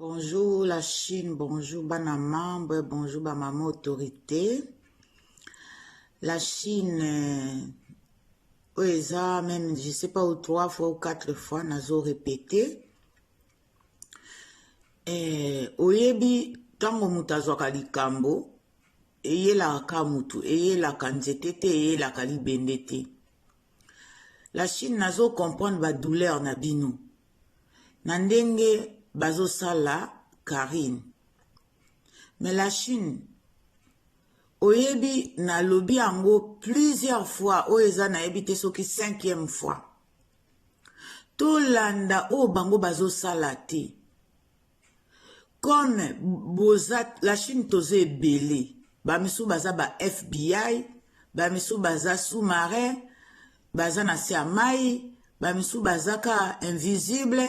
Bonjour la Chine, bonjour bana membre, bonjour ba maman autorité. La Chine euh, oyo eza même je sais pas ou trois fois ou quatre fois nazo répété. Eh, oyebi ntango moto azwaka likambo eyelaka motu eyelaka nzete te eyelaka libende te la chine nazo comprendre badouleur na bino na ndenge bazosala Carine mais la Chine oyebi nalobi yango plusieurs fois oyo eza nayebi te soki cinquième fois tolanda oyo bango bazosala te comme boza la chine toza ebele bamisusu baza ba fbi bamisusu baza sous-marin baza na se ya mai bamisusu baza ka invisible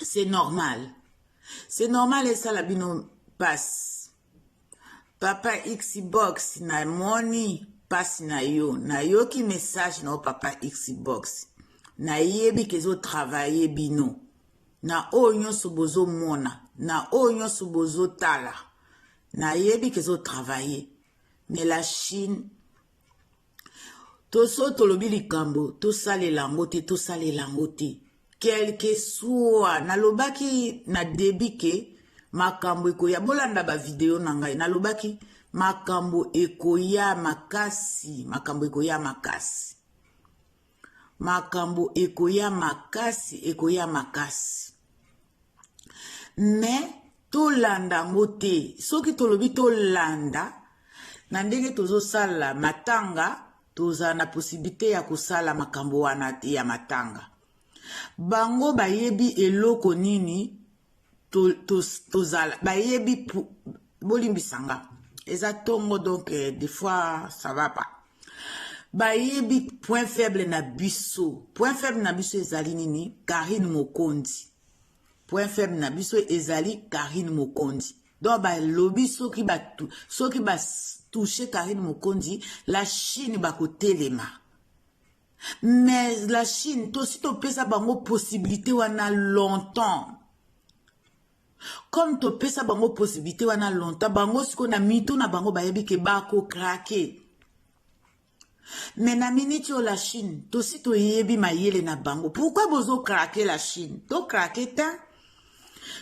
c'est normal c'est normal esala bino mpasi Papa Xbox na moni pasi na yo nayoki message na yo papa Xbox nayebi ke ezotravaille bino na oyo nyonso bozomona na oyo nyonso bozotala nayebi ke ezotravaille mais la chine toso tolobi likambo tosalela yango te tosalela yango te quelque soit nalobaki na debi ke makambo ekoya bolanda bavideo na ngai nalobaki makambo ekoya makasi makambo ekoya makasi makambo ekoya makasi ekoya makasi me tolanda yango te soki tolobi tolanda na ndenge tozosala matanga tozala na posibilite ya kosala makambo wana ya matanga bango bayebi eloko nini tozala bayebi bolimbisa nga eza tongo donc eh, des fois ça va pas bayebi point faible na biso point faible na biso ezali nini karine mokonzi point faible na biso ezali karine mokonzi donc balobi soki batu soki batouche karine mokonzi la chine bakotelema mais la chine tosi topesa bango possibilité wana longtemps comme topesa bango possibilité wana longtemps bango sikoyo na mitu na bango bayebi ke bakokrake me na miniti oyo la chine tosi toyebi mayele na bango pourkui bozokrake la chine tokrake te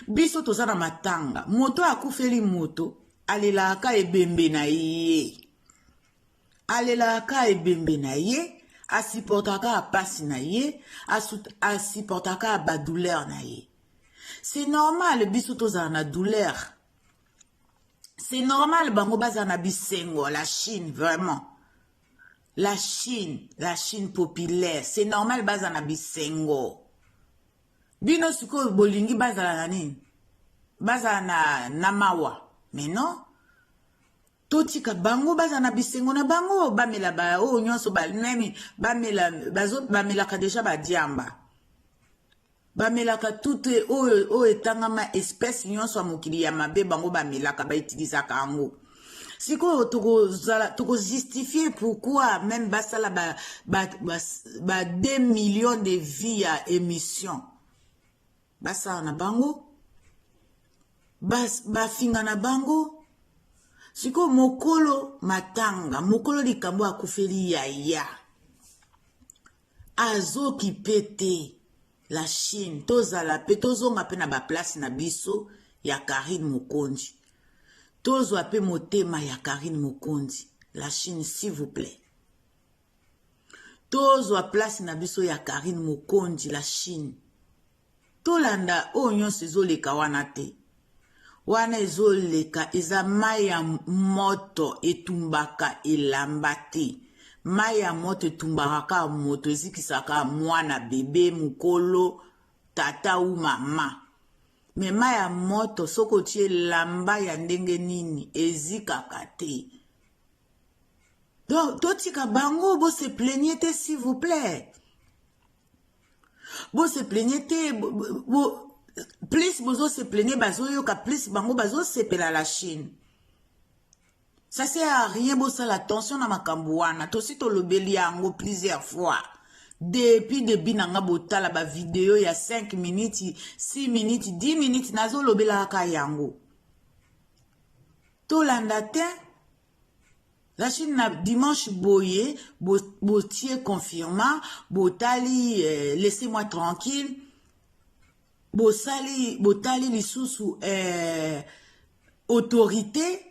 biso toza na matanga moto akufeli moto alelaka ebembe na ye alelaka kaka ebembe na ye asupportaka kaka mpasi na ye asupportaka kaka badouleur na ye c'est normal biso tozala na douleur c'est normal bango bazala na bisengo la chine vraiment la chine la chine populaire c'est normal bazala na bisengo bino sikoyo bolingi bazala na nini bazala na, na mawa mais non totika bango baza na bisengo na bango bamela baoyo oh, nyonso banani bamelaka deja badiamba bamelaka tute oyo oyo etangama espèce nyonso ya mokili ya mabe bango bamelaka baitilizaka yango sikoyo tokozala tokozustifie pourquoi meme basala ba, ba, ba, ba 2 millions de vie ya émission basala na bango bafinga na bango sikoyo mokolo matanga mokolo likambo akufeli yaya azokipe te la chine tozala mpe tozonga mpe na baplace na biso ya karine mokonzi tozwa mpe motema ya karine mokonzi la chine s'il vous plaît tozwa place na biso ya karine mokonzi la chine tolanda oyo nyonso ezoleka wana te wana ezoleka eza mai ya moto etumbaka elamba te mai ya moto etumbaka kaka moto ezikisaka mwana bebe mokolo tata u mama me mai ya moto soki otie elamba ya ndenge nini ezikaka te donc totika bango bo se plaigne te s'il vous plaît bo se plaigne te bo, bo, plus bozo se plaigne bazoyoka plus bango bazosepela la chine ça sert à rien bosala attention na makambo wana tosi tolobeli yango plusieurs fois depuis debi na nga botala bavideo ya 5 minutes 6 minutes 10 minutes nazolobelaka yango tolanda te la chine na dimanche boye botie bo confirma botali eh, laissez moi tranquille bosali botali lisusu eh, autorité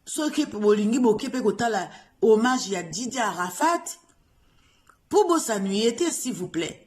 soki bolingi boke mpe kotala hommage ya didi arafat mpo bosanuye te s'il vous plaît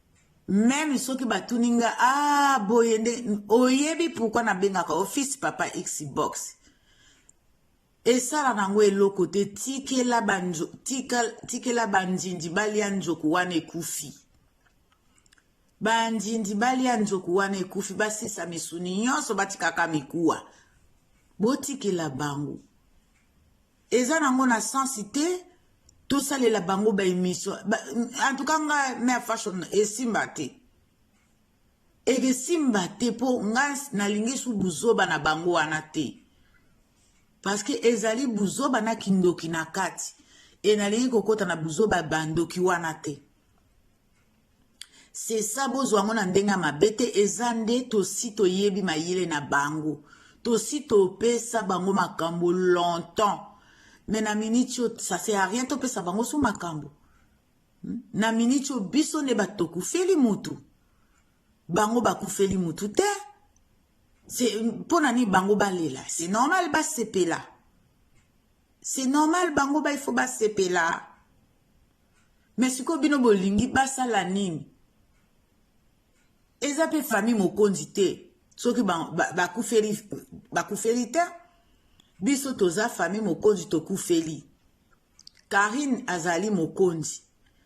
meme soki batuni nga a ah, boye nde oyebi pourkui nabengaka office papa xbox esala nango eloko te tikela banzo tika tikela bandindi balia nzoku wana ekufi bandindi balia nzoku wana ekufi basisa misuni nyonso batikaka mikuwa botikela bango eza nango na sens te tosalela bango ba émission ba, en tout cas nga mère fashion esimba te ekesimba te mpo nga nalingi su buzoba na bango wana te parce que ezali buzoba na kindoki na kati e nalingi kokota na buzoba bandoki wana te sesa bozwa yango na ndenge ya mabe te eza nde tosi toyebi mayele na bango tosi topesa bango makambo longtemps me na miniti oyo ça sert à rien topesa bango so makambo hmm? na miniti oyo biso nde bato tokufeli mutu bango bakufeli mutu te mpo na nini bango balela c'est normal basepela c'est normal bango ba il faut basepela me sikoyo bino bolingi basala nini eza mpe famille mokonzi te soki bakufeli ba, ba, ba te biso toza famille mokonzi tokufeli karine azali mokonzi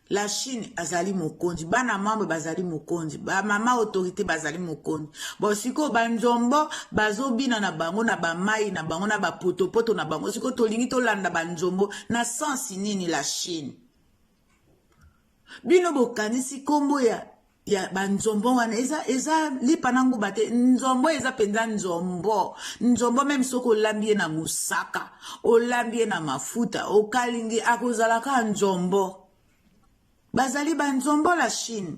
la chine azali mokonzi bana mambo bazali mokonzi bamama autorité bazali mokonzi bon sikoyo banzombo bazobina na bango na bamai na bango na bapotopoto na bango sikoyo tolingi tolanda banzombo na sensi nini la chine bino bokanisi nkombo ya ya banzombo wana eza eza lipa na nguba te nzombo eza mpenza nzombo nzombo meme soki olambi ye na mosaka olambi ye na mafuta okalingi akozala kaka nzombo bazali banzombo la chine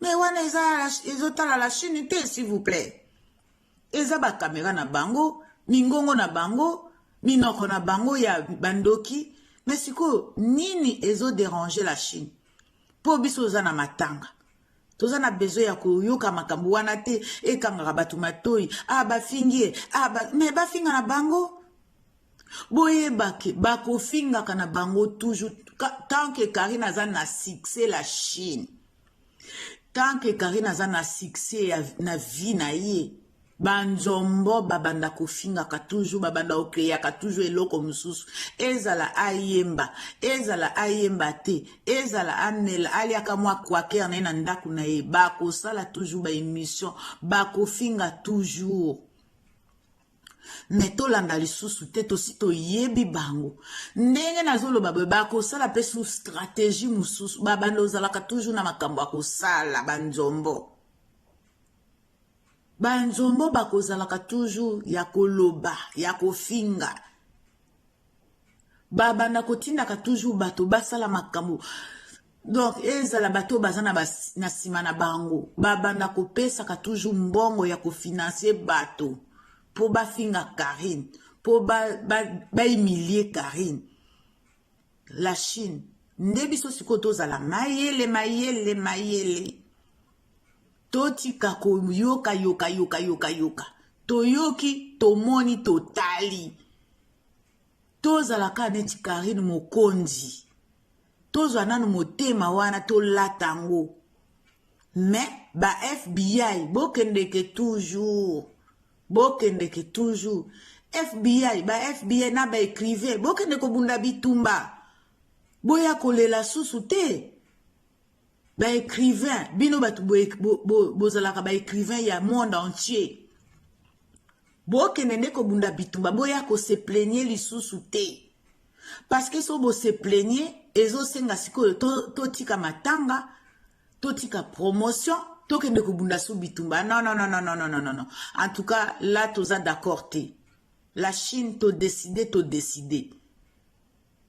mais wana eza ezotala la chine te s'il vous plaît eza bakamera na bango mingongo na bango minoko na bango ya bandoki me sikoyo nini ezoderange la chine mpo biso toza na matanga toza na besoin ya koyoka makambo wana te ekangaka bato matoi a ah, bafingi ye ah, ba... me bafinga na bango boyeba ke bakofingaka na bango toujours tant que karine aza na succès la chine tant que karine aza na succès ya, na vie na ye banzombo babanda kofingaka toujours babanda kokeyaka toujours eloko mosusu ezala ayemba ezala ayemba te ezala amela aliaka mwa quaker na ye na ndako na ye bakosala toujours baémission bakofinga toujours me tolanda lisusu te tosi toyebi bango ndenge nazoloba boye bakosala mpe su stratégie mosusu babanda ozalaka toujours na makambo ya kosala banzombo banzombo bakozalaka toujours ya koloba ya kofinga babanda kotindaka toujours bato basala makambo donc ezala bato baza na nsima na bango babanda kopesaka toujours mbongo ya kofinanse bato mpo bafinga karine mpo baimilie ba, ba karine la chine nde biso sikoyo tozala mayele mayele mayele totika koyoka yoka yoka yoka yoka toyoki tomoni totali tozala kaka neti karine mokonzi tozwa nanu motema wana tolata yango me ba fbi bokendeke toujours bokendeke toujours fbi ba fbi na ba écrivain bokende kobunda bitumba boya kolela susu te ba écrivain bino bato bozalaka ba écrivain ya monde entier bokende nde kobunda bitumba boya koseplenie lisusu te parceke so boseplenie ezosenga sikoyo totika to matanga totika promotion tokende kobunda so bitumba non non non non non non non en tout cas là toza d'accord te la chine todeside todeside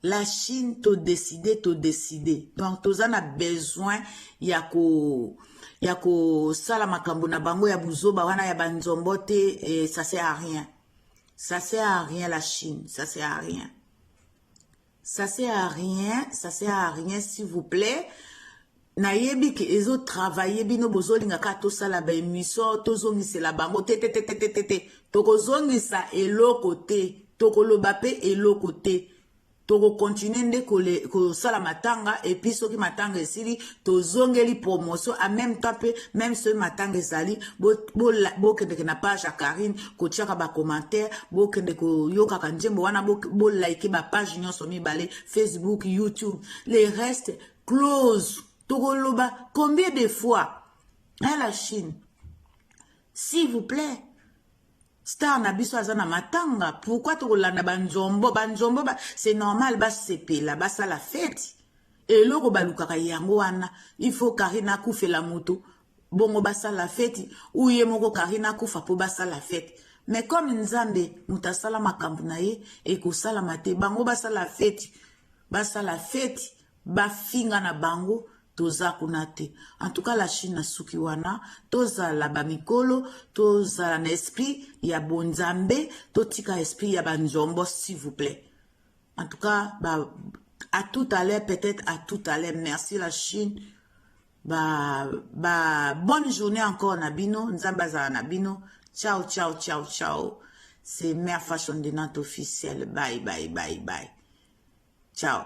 la chine to décider to décider donc toza na besoin ya ko ya kosala makambo na bango ya buzoba wana ya banzombo te eh, ça sert à rien ça sert à rien la chine ça sert à rien ça sert à rien ça sert à rien s'il vous plaît nayebi ke ezo travaille bino bozolinga kaka tosala ba emission tozongisela bango te te te te te te te tokozongisa eloko te tokoloba mpe eloko te tokokontinue nde kosala matanga epuis soki matanga esili tozongeli promotion en même temps mpe meme soki matanga ezali bokendeke na page ya karine kotiaka bacommentaire bokende koyokaka nzembo wana bolaike bapage nyonso mibale facebook youtube le reste close tokoloba combien de fois na la chine s'il vous plaît star na biso aza na matanga pourkui tokolanda banzombo banzombo ba, c'est normal basepela basala feti eloko balukaka yango wana il faut karine akufela moto bongo basala feti uye moko karine akufa mpo basala feti me comme nzambe moto asala makambo na ye ekosalama te bango basala feti basala feti bafinga na bango toza kuna te en tout cas la chine asuki wana tozala bamikolo tozala na esprit ya bonzambe totika esprit ya banzombo s'il vous plaît en tout cas ba, à tout à l'heure peut-être à tout à l'heure merci la chine ba ba bonne journée encore na bino nzambe azala na bino ciao ciao ciao ciao c'est mère fashion de nante officielle bye bye bye bye ciao